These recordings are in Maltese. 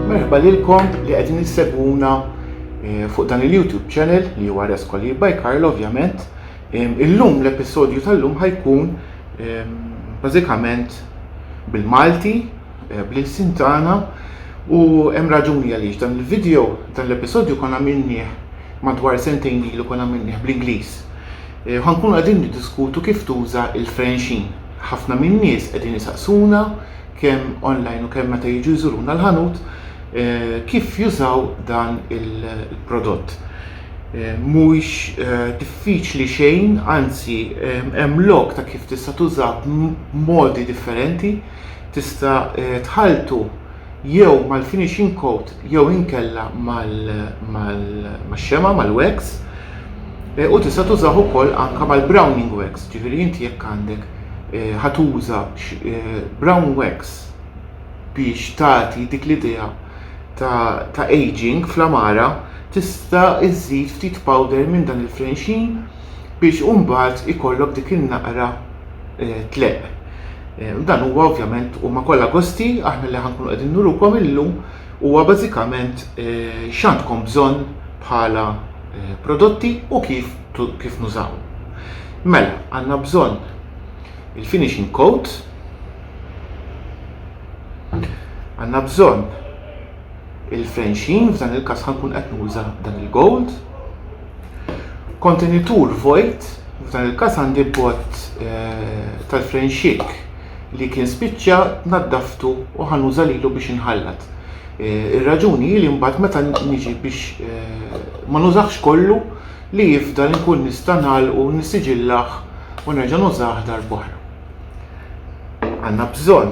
Merħba lilkom li qegħdin issegwuna eh, fuq dan il-YouTube channel li huwa Rescoli by Karl ovvjament. Illum l-episodju tal-lum ħajkun bażikament bil-Malti, eh, bl-ilsin tagħna u hemm raġuni għaliex dan il-video, dan l-episodju konna minni madwar sentejn ilu konna għamilnieh bl-Ingliż. Ħa nkunu qegħdin niddiskutu kif tuża l-frenxin. Ħafna min-nies qegħdin isaqsuna kemm online u kemm meta jiġu jżuruna l-ħanut kif jużaw dan il-prodott. Mhuwiex diffiċli xejn, anzi hemm lok ta' kif tista' tużah b'modi differenti. Tista' tħalltu jew mal-finishing coat jew inkella max-xema' mal-wax eh, u tista' tużah ukoll anke mal-browning wax, ġifieri inti jekk għandek eh, ħatuża eh, brown wax biex tagħti dik l-idea ta' aging fl-amara tista' iżżid ftit powder minn dan il-frenxin biex u mbagħad ikollok dik in-naqra eh, tleq. Eh, dan huwa ovvjament huma kollha gosti aħna li ħankunu qegħdin nurukom illum huwa bażikament eh, x'għandkom bżonn bħala prodotti u kif kif nużaw. Mela, għandna bżonn il-finishing coat, għandna bżonn il-fenxin, f'dan il-każ ħankun qed nuża dan il-gold, Kontenitur vojt, f'dan il-każ għandi bott tal-frejn xikk li kien spiċċa naddaftu u ħa nuża lilu biex inħallat. Ir-raġuni hi li mbagħad meta niġi biex ma nużahx kollu li jifdal inkun nista' ngħalqu, nissiġillah u nerġa' nużah darb'oħra. Għandna bżonn.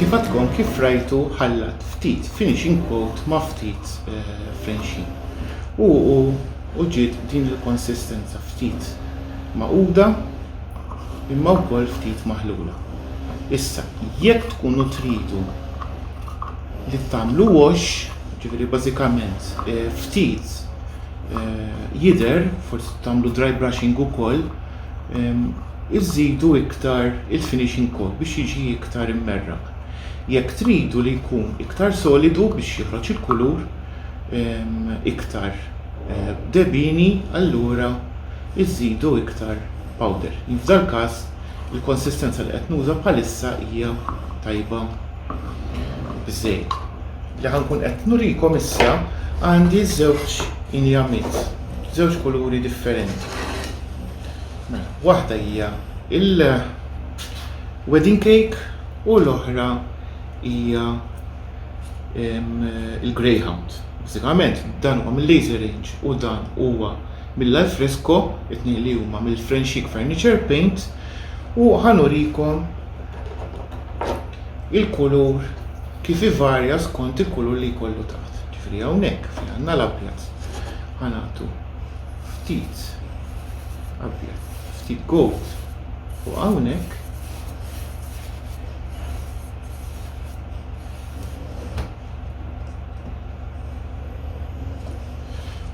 Kif għadkom kif rajtu ħallat ftit finishing quote ma' ftit fenxin. U u u ġiet din il-konsistenza ftit magħquda imma wkoll ftit maħlula. Issa, jekk tkunu tridu li tagħmlu wash, ġifieri bażikament ftit jidher, forsi tagħmlu dry brushing ukoll, ehm, iżidu iktar il-finishing coat biex jiġi iktar immerraq. Jekk tridu li jkun iktar solidu biex joħroġ il-kulur ehm, iktar eh, debini, allura iżidu iktar powder. F'dal każ il-konsistenza li qed nuża bħalissa hija tajba bż-żejt li ħa nkun qed nurikom issa għandi żewġ injamiet, żewġ kuluri differenti. Mela, waħda hija il-wedding cake u l-oħra hija il-greyhound. Bażikament dan huwa mill-laser range u dan huwa mill-alfresco, it-tnejn li huma mill-Frenchic Furniture Paint u ħanurikom il-kulur kif ivarja skont il-kulur li jkollu taħt. Ġifri hawnhekk fejn għandna l-abjad ħanatu ftit abjad, ftit gold u hawnhekk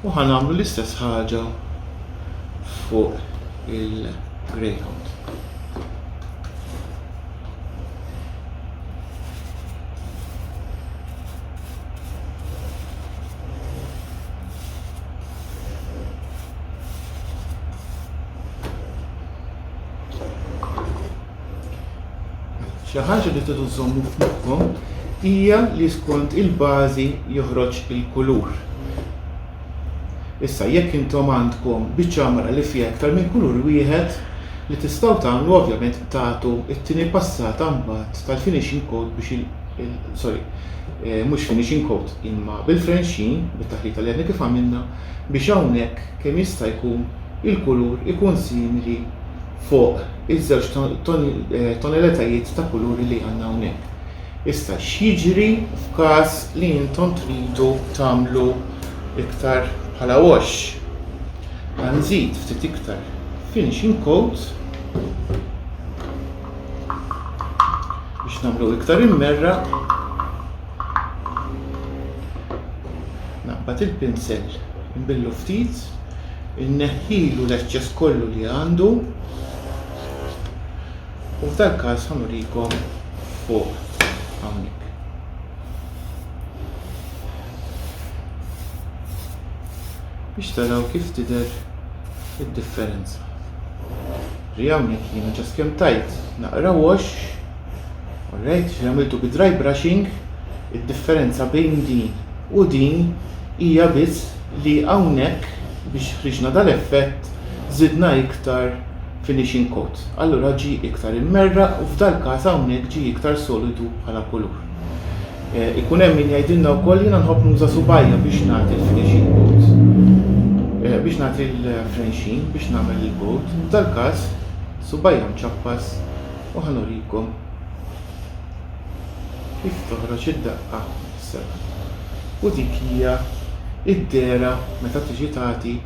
u ħanamlu l-istess ħaġa fuq il- Greyhound. Xi ħaġa li tidu żommu f'moħħkom hija li skont il-bażi joħroġ il-kulur. Issa, jekk intom għandkom biċċa għamara li fiha iktar minn kulur wieħed, li tistgħu tagħmlu ovvjament tagħtu t-tieni passata mbagħad tal-finishing coat biex il, il, sorry, eh, mhux finishing coat imma bil-frenxin, bit-taħlita li għadni kif għamilna, biex hawnhekk kemm jista' jkun il-kulur ikun simili fuq iż-żewġ eh, toneletajiet ta' kuluri li għandna hawnhekk. Issa x'jiġri f'każ li intom tridu tagħmlu iktar bħala wash? Ħa nżid ftit iktar finishing coat biex nagħmlu iktar immerraq. Naqbad il-pinsel nbillu ftit, inneħħilu l-eċċess kollu li għandu. U f'dal-każ ħa nurikom fuq hawnhekk. Biex taraw kif tidher id-differenza. Ri hawnhekk jiena ġast kemm tajt naqra wash, alright, li għamiltu bi dry brushing, id-differenza bejn din u din hija biss li hawnhekk biex ħriġna dal-effett żidna iktar finishing coat, allura ġie iktar immerraq u f'dal-każ hawnhekk ġie iktar solidu bħala kulur. Ikun hemm min jgħidilna wkoll jiena nħobb nuża subgħajja biex nagħti l-finishing coat, biex nagħti l-frenxin, biex nagħmel il-coat. F'dal-każ, subgħajja mċappas u ħanurikom kif toħroġ id-daqqa seba'. U dik hija id-dehra meta tiġi tagħti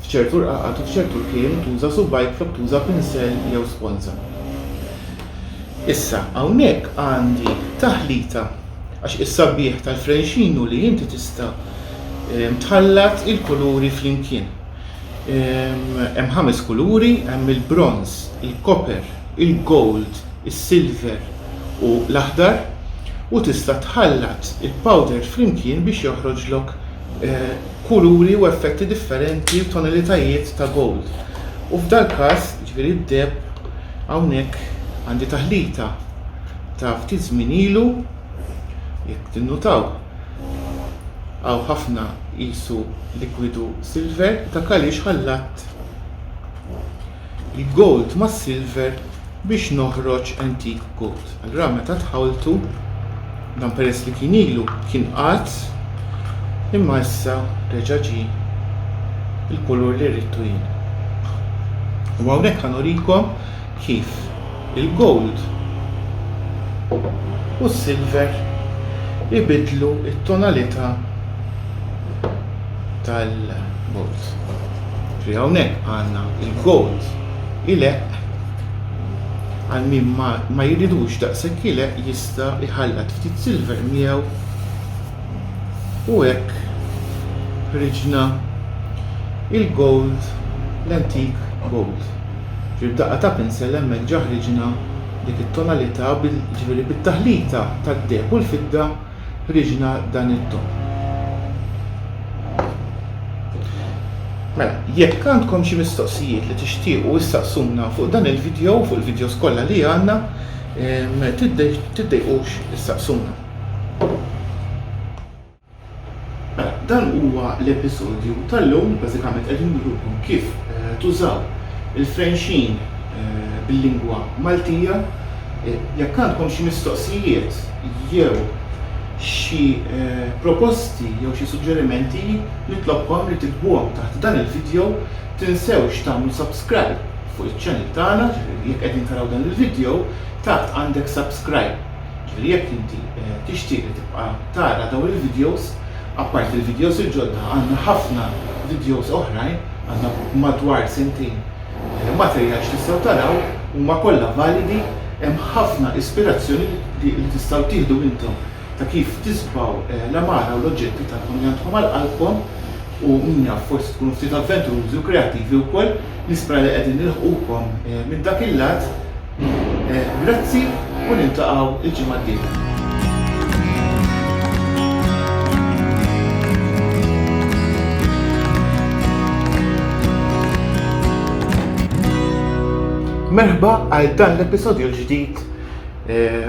F'ċertu rqaqat u f'ċertu rkiel tuża subgħajk flok tuża pinsell jew sponża. Issa, hawnhekk għandi taħlita għax is-sabiħ tal-frenxin hu li inti tista' ehm, tħallat il-kuluri flimkien. Ehm, hemm ħames kuluri, hemm il-bronz, il-koper, il-gold, is-silver u l-aħdar u tista' tħallat il-powder flimkien biex joħroġlok kuluri u effetti differenti u tonalitajiet ta' gold. U f'dal-każ, jiġifieri d-deheb, hawnhekk għandi taħlita ta' ftit żmien ilu, jekk tinnutaw, hawn ħafna qisu likwidu silver, dak għaliex ħallatt l-gold mas-silver biex noħroġ antique gold. Allura meta tħawltu dan peress li kien ilu kien qagħad imma issa reġa' ġie il-kulur li ridtu jien. U hawnhekk ħanurikom kif il-gold u s-silver ibidlu t-tonalità tal-gold. Ġifieri hawnhekk għandna l-gold ileqq għal min ma, ma jridux daqshekk ileqq jista' jħallat ftit silver miegħu u hekk ħriġna il-gold l-antik gold. Ġifieri b'daqqa ta' pinsel hemmhekk ġa ħriġna dik it-tonalità bil, ġifieri bit-taħlita tad-deheb u l-fidda Ħriġna dan it-topp. Mela, jekk għandkom xi mistoqsijiet li tixtiequ issaqsuna fuq dan il-vidjow u fuq il-vidjows kollha li għandna, tiddejqux issaqsuna. Mela, dan huwa l-episodju tal-lum, bażikament qegħdin nurukom kif tużaw il-frenxin bil-lingwa Maltija. Jekk għandkom xi mistoqsijiet, jew xi proposti jew xi suġġerimenti nitlobkom li tiktbuhom taħt dan il-video, tinsewx tagħmlu subscribe fuq iċ-channel tagħna, ġifieri jekk qegħdin taraw dan il-video, taħt għandek subscribe, ġifieri jekk inti tixtieq li tibqa' tara dawn il-videos, apparti l-videos il-ġodda għandna ħafna videos oħrajn, għandna madwar sentejn, Il-materjal x'tistgħu taraw huma kollha validi hemm ħafna ispirazzjoni li tistgħu tieħdu intom ta' kif tiżbgħu l-għamara u l-oġġetti tagħkom li għandkom għal qalbkom u min jaf forsi tkunu ftit avventurużi u kreattivi wkoll nispera li qegħdin nilħqukom minn dak il-lat Grazzi u niltaqgħu l-ġimgħa d-dieħla. Merħba għal dan l-episodju l-ġdid eh,